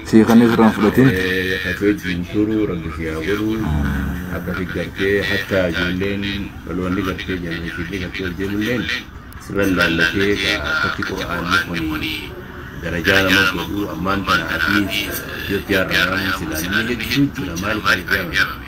Sii kan irraan fudhatin. Akkasi gartee hatta ijoolleen dhaloonni gartee jaallachiifni gartee ol deemulleen sirran laallatee akkatti qura'aanni kun darajaa nama godhu ammaan tana asii Itoophiyaa irraa waan silaa namni hedduu jira maaliif baay'ee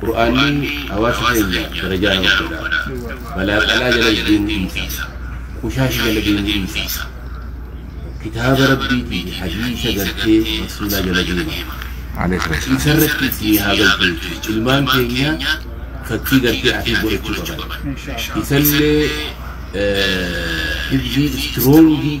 Qur'aanni hawaasa keenya darajaa nama godha. Balaa qalaa jalas deemuu dhiisa. Qushaash jala deemuu dhiisa. Kitaaba Rabbiitii fi hadiisa gartee Rasuulaa jala deema. Isarratti isinii haa galchu jechuudha. Ilmaan keenya fakkii gartee Afiif godhachuu qaban. Isallee hifzii istiroongii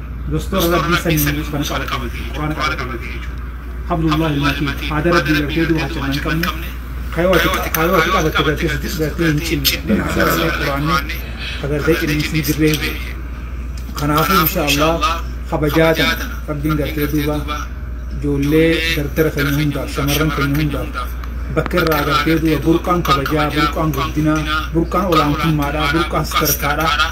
Dostor rabbii sanyii ban qabate jechu qurana qabate jechu hablullahi ilmatin ada rabbii garte du hacha nan qabne kayo ati kayo ati qabate garte siti garte hin cinne dina ada rabbii qurani ka garte cinne sin jirre je kanafu insha allah kabajaa tana rabbiin gartee duuba ijoollee dardara keenya hundaaf shamarran keenya hundaaf bakka irraa agartee duuba burqaan kabajaa burqaan guddinaa burqaan olaantummaadhaa burqaan sadarkaadhaa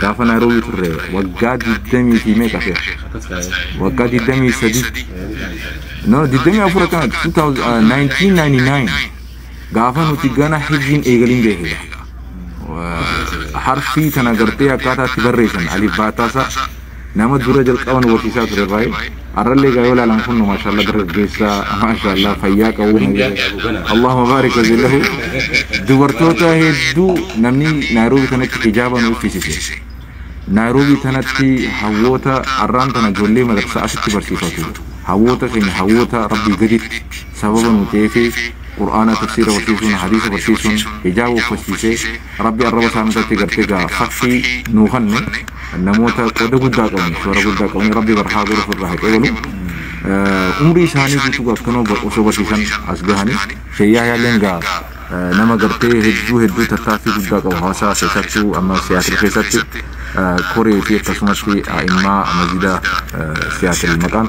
Gaafa Naayiroobii turre waggaa 20 fi meeqa seera? Waggaa 23. No, 24 akkana 1999 gaafa nuti gana hibziin eegaliin beekudha. Harfii tana gartee akkaataa itti barreessan alif baataasaa Nama dura jalqaba nu barsiisaa ture irraayi arrallee egaa yoo laalan kunno maashaallaa dargaggeessa maashaallaa fayyaa qabu Allahuma baarik wajin lahu dubartoota hedduu namni Naayiroobii tanatti hijaaba nu uffisise Naayiroobii tanatti hawwoota arraan tana ijoollee madarsaa asitti barsiifatu hawwoota keenya hawwoota rabbii gaditti sababa nu ta'eefi qur'aana tafsiira barsiisuun hadiisa barsiisuun hijaaba uffachiisee Rabbi arraba isaani irratti gartee egaa fakkii nuu kanne namoota qoda guddaa qabani shoora guddaa qabani rabbi bar haa goru ofirraa haa qebalu umrii isaanii guutuu gaa akkanuma osoo barsiisan as gahani shee yahyaa illeen gaa nama gartee hedduu hedduu tattaaffii guddaa qabu hawaasaa keessattuu amma siyaatil keessatti koree fi akkasumatti a'immaa masjida siyaatil maqaan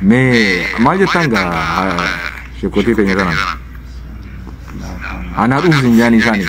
Mee maal jettaan gaa sheekotii teenya kanaan? Anaa dhufu sin jaanii isaanii.